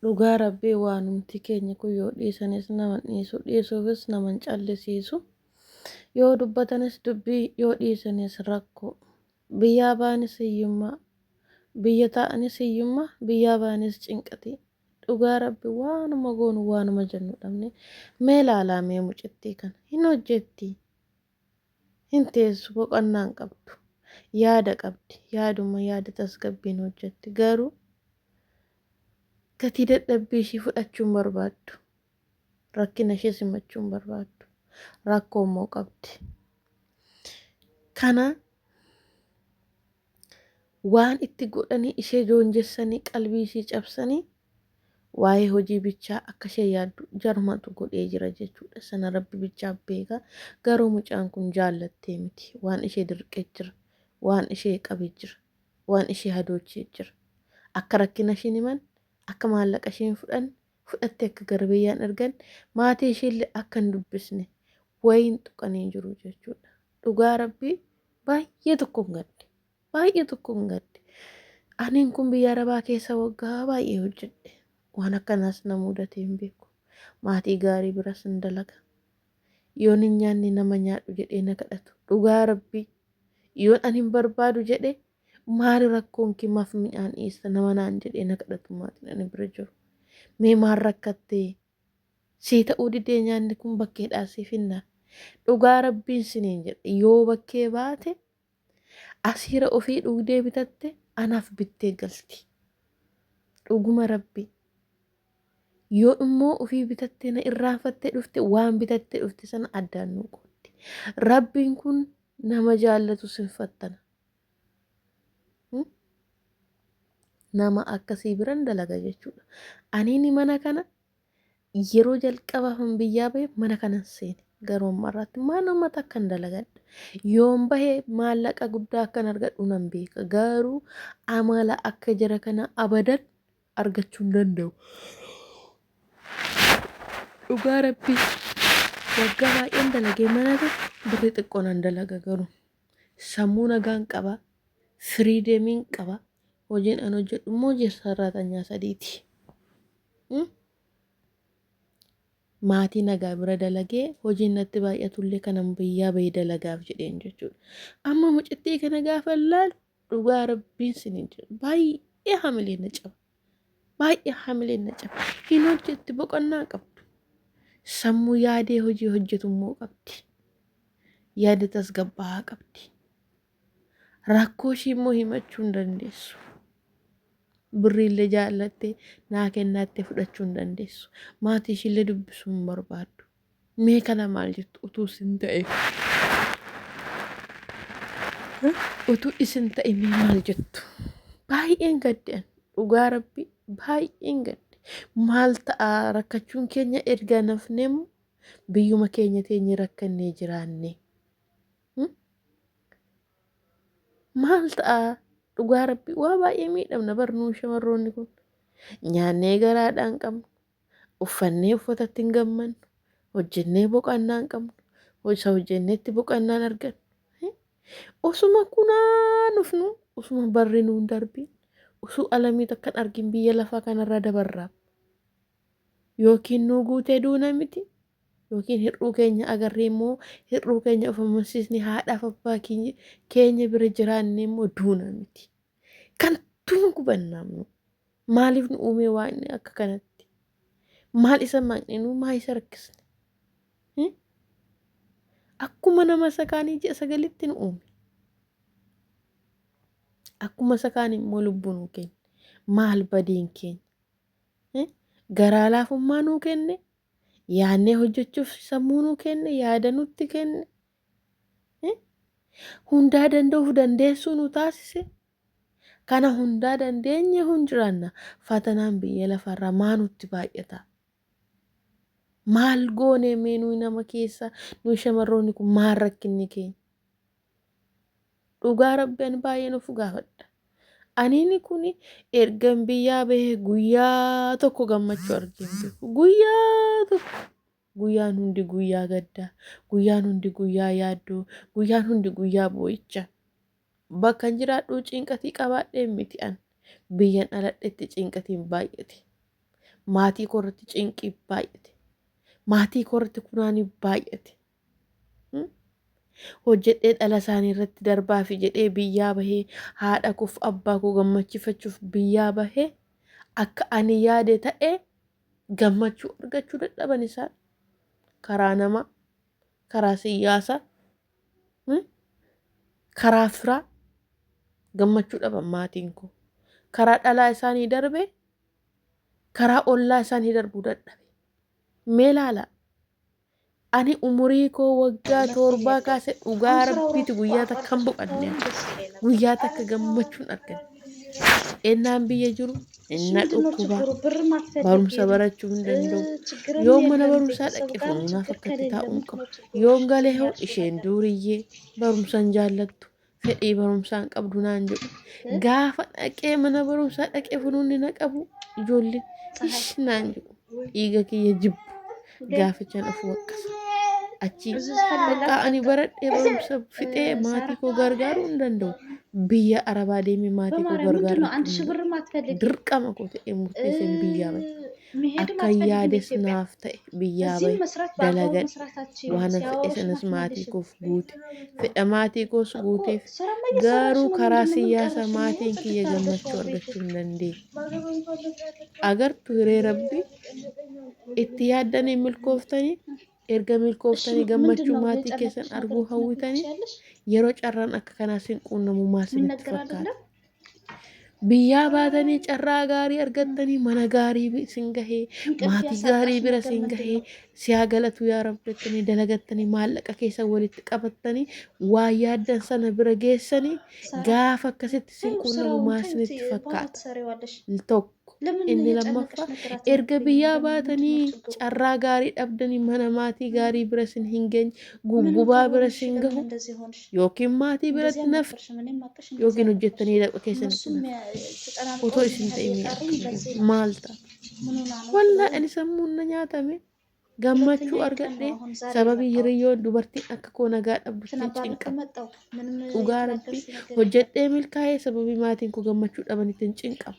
Dhugaa rabbii waanumti keenya kun yoo dhiisanis nama dhiisu dhiisuufis nama hin callisiisu yoo dubbatanis dubbii yoo dhiisanis rakko biyyaa baanis hiyyummaa biyya taa'anis hiyyummaa biyyaa baanis cinqatii dhugaa rabbi waanuma goonu waanuma jennu dhabne mee laalaa mee mucittii kana hin hojjettii Hin teessu, boqannaa hin qabdu. Yaada qabdi, yaaduma yaada tasgabbiin hojjetti. Garuu gatii dadhabbii ishii fudhachuu hin barbaaddu. Rakkina ishee simachuu hin barbaaddu. Rakkoo immoo qabdi. Kana Waan itti godhanii ishee joonjessanii qalbii ishii cabsanii waa'ee hojii bichaa akka ishee yaaddu jarumatu godhee jira jechuudha. Sana rabbi bichaa beeka. Garuu mucaan kun jaallattee miti. Waan ishee dirqee jira. Waan ishee qabee jira. Waan ishee hadoochee jira. Akka rakkina ishiin himan, akka maallaqa ishiin fudhan, fudhattee akka gara biyyaan ergan, maatii ishiillee akka hin dubbisne wayiin tuqanii jiru jechuudha. dhugaa rabbii baay'ee tokkon gadde baay'ee tokkon gadde aniin kun biyya arabaa keessa waggaa baay'ee hojjedhe waan akkanaas na mudatee hin beeku maatii gaarii biras hin dalaga yoon hin nyaanne nama nyaadhu jedhee na kadhatu dhugaa rabbii yoon an hin barbaadu jedhe maali rakkoon kee maaf midhaan dhiyeessa nama naan jedhee na kadhatu maatiin ani bira jiru mee maal rakkattee Sii ta'uu didee nyaanni kun bakkeedhaa sii finna. Dhugaa rabbiin siniin jedhe yoo bakkee baate asiira ofii dhugdee bitatte anaaf bittee galti. Dhuguma rabbi yoo immoo ofii bitattee na irraanfattee dhufte waan bitattee dhufte sana addaan nuu qooddi. Rabbiin kun nama jaallatu sinfattana. nama akkasii biran dalaga jechuudha. Aniini mana kana yeroo jalqabaafan biyyaa bahe mana kanan seene garuu amma irratti manuma takkan dalagadha. Yoon bahe maallaqa guddaa akkan argadhu nan beeka garuu amala akka jara kana abadan argachuu hin danda'u. Dhugaa rabbii waggaa baay'een dalagee mana kana birri xiqqoo nan dalaga garuu Sammuu nagaan qaba, firiidemiin qaba, hojiin an hojjedhu immoo hojii sarraatanya sadiiti. Hmm? Maatii nagaa bira dalagee hojiin natti baay'atullee kanan biyyaa bahee dalagaaf jedheen jechuudha. Amma mucittii kana gaafa ilaalu dhugaa rabbiin sinin jedhu baay'ee hamileen na caba baay'ee hamileen na caba hin hojjetti boqonnaa qabdu sammuu yaadee hojii hojjetummoo qabdi yaada tasgabbaa'aa qabdi rakkoo ishii immoo himachuu hin dandeessu birriillee jaallattee naa kennaattee fudhachuu hin dandeessu maatii ishiillee dubbisuu hin barbaaddu Mee kana maal jettu utuu isin ta'e? Utuu isin ta'e mee maal jettu? Baay'een gaddan dhugaa rabbi baay'een gadde maal ta'a rakkachuun keenya erga nafneemu biyyuma keenya teenye rakkannee jiraanne. Maal ta'a dhugaa rabbi waa baay'ee miidhamna barnuu shamarroonni kun nyaannee garaadhaan qabna. Uffannee uffatatti hin gammannu. Hojjennee boqannaa hin qabnu. Isa hojjennetti boqannaa hin argannu. Osuma kunaa nufnu osuma barri nuun darbiin osoo alamii takka hin argin biyya lafaa kanarraa dabarraam. Yookiin nuu guutee duuna miti. Yookiin hir'uu keenya agarree immoo hir'uu keenya of amansiisni haadhaaf abbaa keenya bira jiraannee immoo duuna miti. Kan tuun gubannaamnu. Maaliif nu uumee waa inni akka kanatti? Maal isa maqne nu maa isa rakkisne? Hmm? Akkuma nama isa kaanii ji'a sagalitti nu uume. Akkuma isa kaanii immoo lubbuu nuu kenne. Maal badiin keenya? Hmm? Garaa laafummaa nuu kenne. Yaannee hojjechuuf sammuu nuu kenne. Yaada nutti kenne. Hmm? Hundaa danda'uuf dandeessuu nu taasise. Kana hundaa dandeenye hun jiraanna. Fatanaan biyya lafarraa maa nutti baay'ata? Maal goonee mee nuyi nama keessa nuyi shamarroonni kun maal rakkinni keenya? Dhugaa rabbi ani baay'een of gaafadha. Aniini kun ergan biyyaa bahee guyyaa tokko gammachuu argeen beeku. Guyyaa tokko. Guyyaan hundi guyyaa gaddaa. Guyyaan hundi guyyaa yaaddoo. Guyyaan hundi guyyaa boo'icha. Bakkan jiraadhuu cinqatii qabaadheen miti an. Biyyan dhaladhetti cinqatiin baay'ate. Maatii koorratti cinqii baay'ate. Maatii koorratti kunaanii baay'ate. hojjedhee dhala isaanii irratti darbaafi jedhee biyyaa bahee haadha koof abbaa koo gammachiifachuuf biyyaa bahee akka ani yaade ta'e Gammachuu argachuu dadhaban isaan karaa namaa, karaa siyyaasaa, hmm, karaa firaa gammachuu dhaban maatiin koo. Karaa dhalaa isaanii darbe, karaa ollaa isaanii darbuu dadhabe. Mee laalaa Ani umurii koo waggaa torbaa kaase dhugaa rabbiiti guyyaa takka hin boqanne. Guyyaa takka gammachuun argan. Ennaan biyya jiru inna dhukkuba barumsa barachuu hin danda'u. Yoo mana barumsaa dhaqe funaanaaf akkatti taa'uun qabu. Yoon galee hoo isheen duuriyyee barumsa hin jaallattu. fedhii barumsaa hin qabdu naan jedhu. Gaafa dhaqee mana barumsaa dhaqee funuunni na qabu ijoolleen ish naan jedhu. Dhiiga kiyya jibbu gaafichaan of waqqasa. Achi bakka ani baradhee barumsa fixee maatii koo gargaaruu hin danda'u. Biyya arabaa deemee maatii koo gargaaruu hin danda'u. Dirqama koo ta'ee murteesseen biyyaa bahe. akkan yaades naaf ta'e biyyaa bahe dalagadhe waanan fedhe sanas maatii koof guute fedha maatii koos guuteef garuu karaa siyyaasa maatiin kiyya gammachuu argachuu hin dandeenye agartu hiree rabbi itti yaaddanii milkooftanii erga milkooftanii gammachuu maatii keessan arguu hawwitanii yeroo carraan akka kanaa sin quunnamu maal sinitti fakkaata Biyyaa baatanii carraa gaarii argattanii mana gaarii bi- isin gahee maatii gaarii bira isin gahee siyaa galatu yaa rabbi jettanii dalagattanii maallaqa keessa walitti qabattanii waa yaaddan sana bira geessanii gaafa akkasitti isin quunnamu maa isinitti fakkaata? Tokko. Inni lammaffaa erga biyyaa baatanii carraa gaarii dhabdanii mana maatii gaarii bira isin hin geenye guggubaa bira isin gahu yookiin maatii biratti naf yookiin hojjettanii lafa keessan otoo isin ta'in maal ta'a. Wallaa ani sammuun na nyaatame gammachuu argadhe sababii hiriyyoon dubartiin akka koo nagaa dhabdu ittiin cinqama. Dhugaa rabbii hojjedhee milkaa'ee sababii maatiin koo gammachuu dhaban ittiin cinqama.